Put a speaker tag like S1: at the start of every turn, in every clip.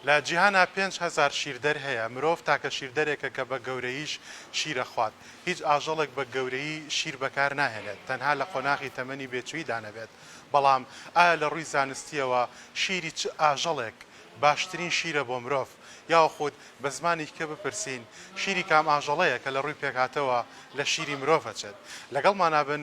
S1: لە جیهانا پێنج هەزار شیردەر هەیە، مرۆڤ تاکە شیردەرێکە کە بە گەورەییش شیر ئەخوات. هیچ ئاژەڵێک بە گەورەیی شیر بەکار ناهێنێت، تەنها لە قۆناغی تەمەنی بێچوویدا نەبێت. بەڵام ئایا لە ڕووی زانستییەوە شیری چ ئاژەڵێک باشترین شیرە بۆ مرۆڤ؟ یاوخود بە زمانی کە بپرسین شیری کام ئاژەڵەیە کە لە ڕووی پێکهاتەوە لە شیری مرۆڤ ئەچێت؟ لەگەڵمانا بن.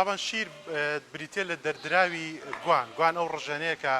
S1: تابان شیر بریتیە لە دەردراوی گوان گوان ئەو ڕژێنەیە کە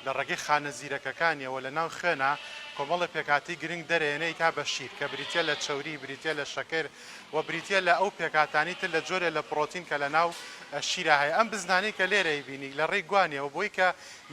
S1: لە ڕێگەی خانە زیرەکەکانیەوە لە ناو خوێنە کۆمەڵە پێکاتی گرنگ دەرێنەی تا بە شیر کە بریتە لە چوری بریتە لە شەکر و بریتیە لە ئەو پێکهاتانەی تر لە جۆرێ لە پڕۆتین کە لە ناو شیرا هەیە ئەم بزنانەی کە لێرەی بینی لە ڕێی گوانیەوە بۆی کە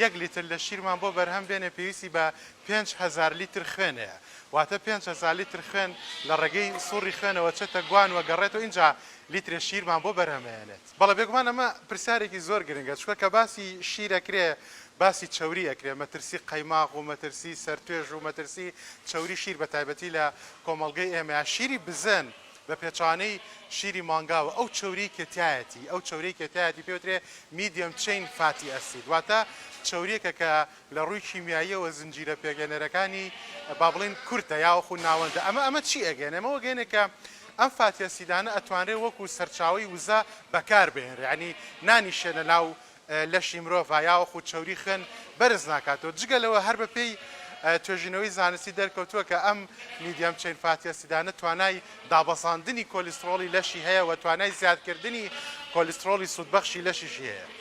S1: یەک لیتر لە شیرمان بۆ بەرهەم بێنێ پێویستی بە پێنج هەزار لیتر خوێن هەیە واتە پێنج هەزار لیتر خوێن لە ڕێگەی سوڕی خوێنەوە چێتە گوان و گەڕێتەوە ئینجا لیترێ شیرمان بۆ بەرهەمێنێت. بەڵێ بێگومان ئەمە پرسیارێکی زۆر گرنگە چونکە کە باسی شیر ئەکرێ باسی چەوری ئەکرێ مەترسی قەیماغ و مەترسی سەرتوێژ و مەترسی چەوری شیر بە تایبەتی لە کۆمەڵگەی ئێمەیا شیری بزن بە پێچەوانەی شیری مانگاوە ئەو چەوریەی کە تیایەتی ئەو چەورەی کە تیایەتی پێوترێ میدیەم چین فاتی ئەسید واتە چەوریەکە کە لە ڕووی کیمیاییەوە زنجیرە پێگەێنەرەکانی با بڵێین کورتە یاوەخو ناوەندە ئەمە ئەمە چی ئەگەێنێ؟ ئەمە وەگەێنێ کە ئەم فاتی ئەسیدانە ئەتوانرێ وەکو سەرچاوەی وزە بەکار بهێنرێ یانی نانیشێ لە ناو لەشی مرۆڤا یاوەخو چەوری خوێن بەرز ناکاتەوە جگە لەوە هەر بە پێی توێژینەوەی زانستی دەرکەوتووە کە ئەم میدیەم چەین فاتی ئەسیدانە توانای دابەزاندنی کۆلیسترۆڵی لەشی هەیە و توانای زیادکردنی کۆلیسترۆڵی سوودبەخشی لەشیشی هەیە.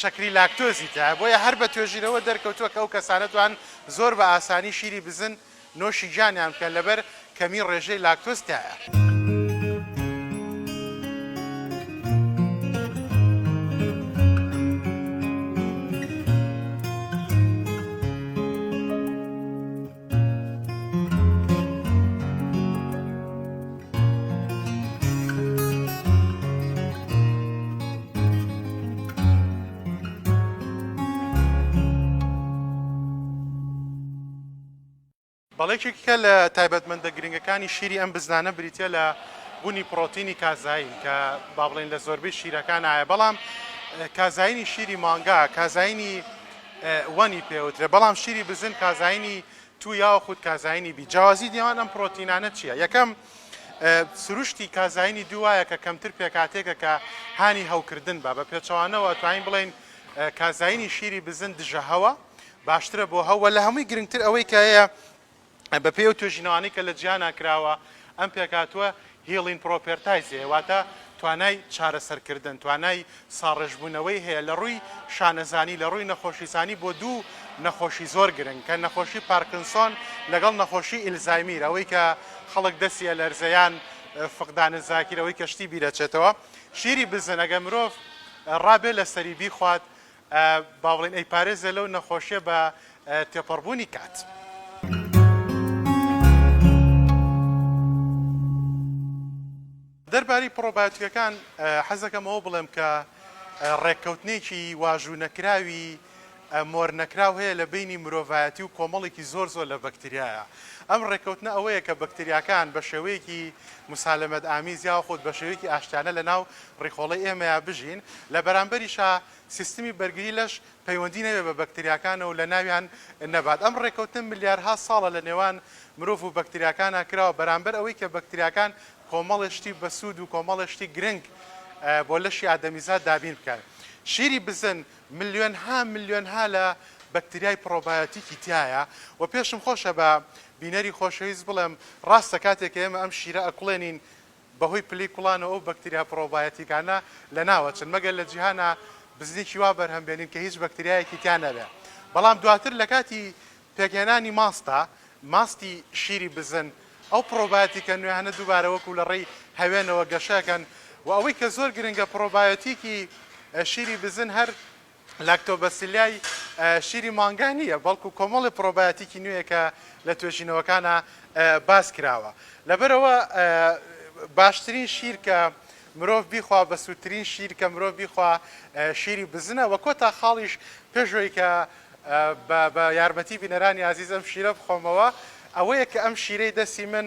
S1: شەکری لاکتۆزی تایە، بۆیە هەر بە توێژینەوە دەرکەوتووە کە ئەو کەسانە توان زۆر بە ئاسانی شیری بزن نۆشی گیانیان بکەن لەبەر کەمی ڕێژەی لاکتۆز تایە. بەڵێکێکە لە تایبەتمەندە گرنگەکانی شیری ئەم بزنانە بریتە لە بوونی پرۆتینی کازایین کە با بڵێن لە زۆربەی شیرەکان ئاە بەڵام کازایینی شیری مانگا کازایینی ونی پێوترێ بەڵام شیری بزن کازاینی تو یاخود کازاینی بی جیاوازی نێوان ئەم پرۆتینانە چییە یەکەم سروشتی کازاینی دوایە کە کەمتر پێکاتێکە کە هانی هەوکردن بە بە پێچەوانەوە توانین بڵین کازاینی شیری بزن دژە هەوە باشترە بۆ هەوە لە هەمووی گرنگتر ئەوەی کە هەیە بە پێی ئەو توێژینەوانەی کە لە جیهانا کراوە ئەم پێکهاتووە هیڵین پرۆپێرتایزی هەیە واتە توانای چارەسەر کردن توانای ساڕێژبوونەوەی هەیە لە ڕووی شانەزانی لە ڕووی نەخۆشیزانی بۆ دوو نەخۆشی زۆر گرنگ کە نەخۆشی پارکنسۆن لەگەڵ نەخۆشی ئیلزایمیر ئەوەی کە خەڵک دەسی ئەلەرزێ یان فقدان زاکیر ئەوەی کە شتی بیرەچێتەوە ژیری بزن ئەگەر مرۆڤ ڕابێ لەسەری بیخوات با بڵێین ئەیپارێزێ لەو نەخۆشیە بە تێپەڕبوونی کات. دەربارەی پڕۆبایۆتیکەکان حەزەکەم ئەوە بڵێم کە ڕێککەوتنێکی واژوو نەکراوی مۆر نەکراو هەیە لە بینی مرۆڤایەتی و کۆمەڵێکی زۆر زۆر لە بەکتریایە ئەم ڕێککەوتنە ئەوەیە کە بەکتریاکان بە شێوەیەکی مسالمەت ئامیز یا خۆت بە شێوەیەکی ئاشتانە لە ناو ڕیخۆڵی ئێمەیە بژین لە بەرامبەریشە سیستمی بەرگری لەش پەیوەندی نەبێت بە بەکتریاکانەوە و لەناویان نەبات، ئەم ڕێکەوتنە ملیارها ساڵە لەنێوان مرۆڤ و بەکتریاکانا کراوە، بەرامبەر ئەوەی کە بەکتریاکان کۆمەڵێ شتی بەسوود و کۆمەڵێ شتی گرنگ بۆ لەشی ئادەمیزاد دابین بکەن. شیری بزن ملیۆنها ملیۆنها لە بەکتریای پڕۆبایۆتیکی تیایە و پێشم خۆشە بە بینەری خۆشەویست بڵێم ڕاستە کاتێک کە ئێمە ئەم شیرە ئەکوڵێنین، بەهۆی پلەی کوڵانەوە ئەو بەکتریا پرۆبایۆتیکانە لەناوئەچن مەگەر لە جیهانا بزنیکی وا بەرهەم بێنین کە هیچ بەکتریایەکی تیا نەبێ بەڵام دواتر لە کاتی پێکهێنانی ماستا ماستی شیری بزن ئەو پرۆبایۆتیکە نوێهانە دووبارە وەکو لە ڕێی هەوێنەوە گەشەکەن و ئەوەی کە زۆر گرنگە پرۆبایۆتیکی شیری بزن هەر لاکتۆبەسیلیای شیری مانگا نییە، بەڵکو کۆمەڵی پرۆبایۆتیکی نوێیە کە لە توێژینەوەکانا باس کراوە. لەبەرئەوە باشترین شیر کە مرۆڤ بیخوا، بەسوودترین شیر کە مرۆڤ بیخوا شیری بزنە وە کۆتا خاڵیش پێشەوەی کە بە یارمەتی بینەرانی ئازیز ئەم شیرە بخۆمەوە ئەوەیە کە ئەم شیرەی دەستی من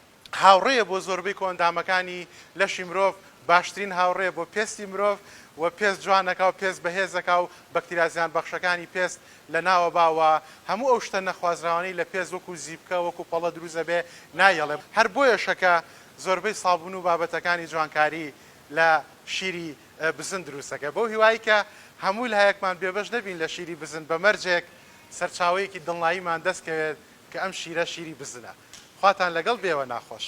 S1: هاوڕێیە بۆ زۆربەی کۆئەندامەکانی لەشی مرۆڤ، باشترین هاوڕێیە بۆ پێستی مرۆڤ و پێست جوان دەکا و پێست بەهێز دەکا و بەکتریا زیانبەخشەکانی پێست لەناوە با و هەموو ئەو شتە نەخوازراوانەی لە پێست وەکو زیپکە وەکو پەڵە دروست دەبێ نایەڵێ، هەر بۆیەشە کە زۆربەی سابون و بابەتەکانی جوانکاری لە شیری بزن دروست دەکا. بەو هیوایەی کە هەموو لایەکمان بێبەش نەبین لە شیری بزن بە مەرجێک سەرچاوەیەکی دڵناییمان دەست کەوێت، کە ئەم شیرە شیری بزنە. خواتان لەگەڵ بێ وە ناخۆش.